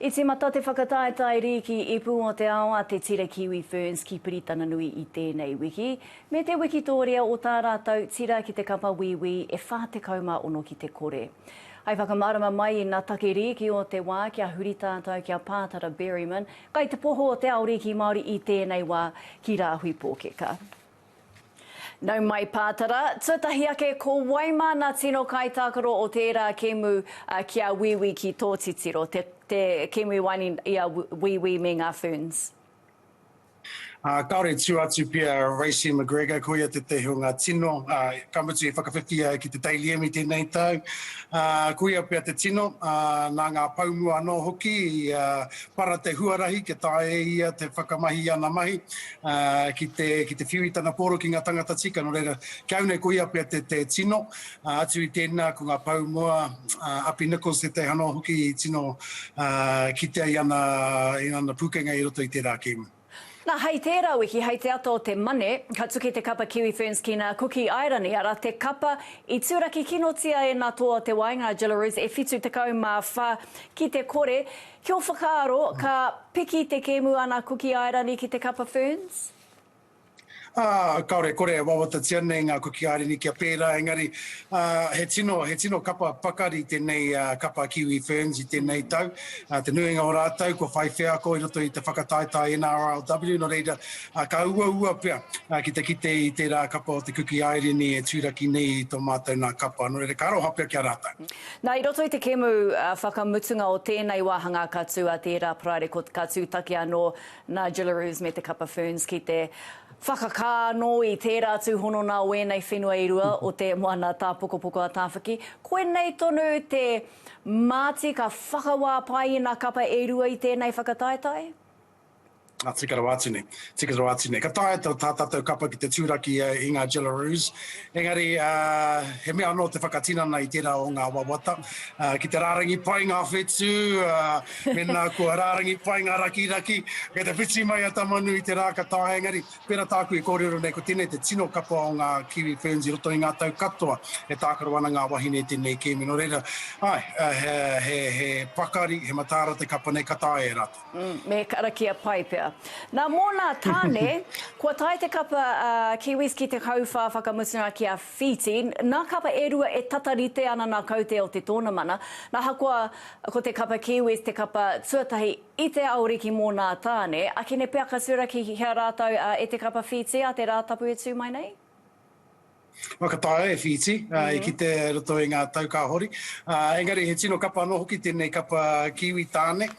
I tīmata te whakataetae rīki ipu o te ao a Te Tira Kiwi Ferns ki Piritananui i tēnei wiki, me te wikitōria o tā rātou tira ki te kapa Wīwī e 46 ki te kore. Hai whakamārama mai i nā take rīki o te wā kia huri tātou ki a Pātara Berryman, kai te poho o te ao rīki Māori i tēnei wā ki Rāhui Pōkeka. Nau mai Pātara, tuatahi ake ko wai māna tino kaitākaro o tērā kēmu ki a Wīwī ki tō titiro, te, te kēmu i waenga i a Wīwī me ngā Ferns? Ā, kāore tū atu pea Racy McGregor, ko ia tētahi o ngā tino, ā, ka mutu i whakawhiwhia ai ki te Daily Emmy tēnei tau. Ā, ko ia pea te tino, ā, nā ngā pou mua anō hoki i para te huarahi kia taea e ia te whakamahi i ana mahi. ki te ki te whiu i tana pōro ki ngā tangata tika nō reira ki au nei ko ia pea te te tino atu i tēnā ko ngā pou moa Api Nichols tētahi hanoa hoki i tino kitea i ana i ana pūkenga i roto i tērā kēmu. Na, hei tērā wiki, hei te ata o te Mane, ka tuki te kapa Kiwi Ferns ki nā Kuki Airani, ara, te kapa i turakikinotia e nā Toa o te Waenga a Jillaroos e 74 ki te kore, Kia whakaaro, ka piki te kēmu a Ana Kuki Airani ki te kapa Ferns? Kāore, kore e wawatatia nei ngā Kuki Airani kia pērā, engari he tino, he tino kapa pakari tēnei kapa Kiwi Ferns i tēnei tau. Te nuinga o rātou kua whai wheako i roto i te whakataetae NRLW, nō reira, ka uaua pea ki te kite i tērā kapa o te Kuki Airani e tūraki nei i tō mātou nā kapa, nō reira, ka aroha pea ki a rātou. Nā, i roto i te kēmu whakamutunga o tēnei wāhangā ka tū a tērā paraire ka tūtaki anō nā Jillarooz me te Kapa Ferns ki te whakakā anō i tērā tūhono nā wēnei whenua i rua o te moana tāpokopoko a Tāwhaki. Koinei tonu te māti ka whakawā pai i nā kapa e rua i tēnei whakataetae? Tika rawa atu nei, tika rawa atu nei. Ka taea tā tātou kapa ki te tūraki i ngā Jillaroos, engari he mea anō te whakatinana i tērā o ngā wawata, ki te rārangi pai ngā whetū, mēnā kua rārangi pai ngā rakiraki, kei te whiti mai a Tamanu i te rā ka taea, engari pērā tāku i kōrero nei, ko tēnei te tino kapa o ngā Kiwi Ferns i roto i ngā tau katoa, e tākaro ana ngā wahine i tēnei kēmi, nō reira, āe, he pakari, he mataara te kapa nei, ka taea e rātou. Me karakia pai pea. Nā, mōnā tāne, kua tae te kapa a Kiwis ki te kauwhā whakamutunga ki a Whītī. Nā kapa e rua e tata rite ana nā Kaute o te Tōnamana. Nā, hakoa ko te kapa Kiwis te kapa tuatahi i te aoriki mōnā tāne, akene pea ka tūraki hea rātou e te kapa Whītī a te Rātapu e tū mai nei? Whakataea e Whīti, i kite e roto i ngā tau ka hori. Engari he tino kapa anō hoki tēnei kapa Kiwi tāne,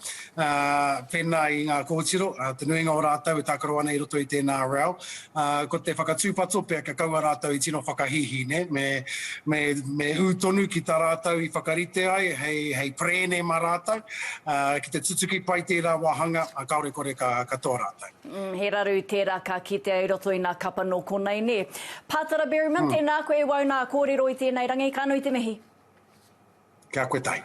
pēnā i ngā kōtiro, te nuinga o rātou e tākaro ana i roto i tēnā reo. Ko te whakatūpato pea kia kaua rātou i tino whakahīhī, nē? Me, me, me ū tonu ki tā rātou i whakarite ai hei, hei perēne mā rātou, ki te tutuki pai tērā wāhanga, kāore kore ka katoa rātou. Umm, he raru tērā ka kitea i roto i nā kapa nō konei nē. Pātara Berryman, tēnā koe e wau nā kōrero i tēnei rangi, ka nui te mihi. Kia koe tahi.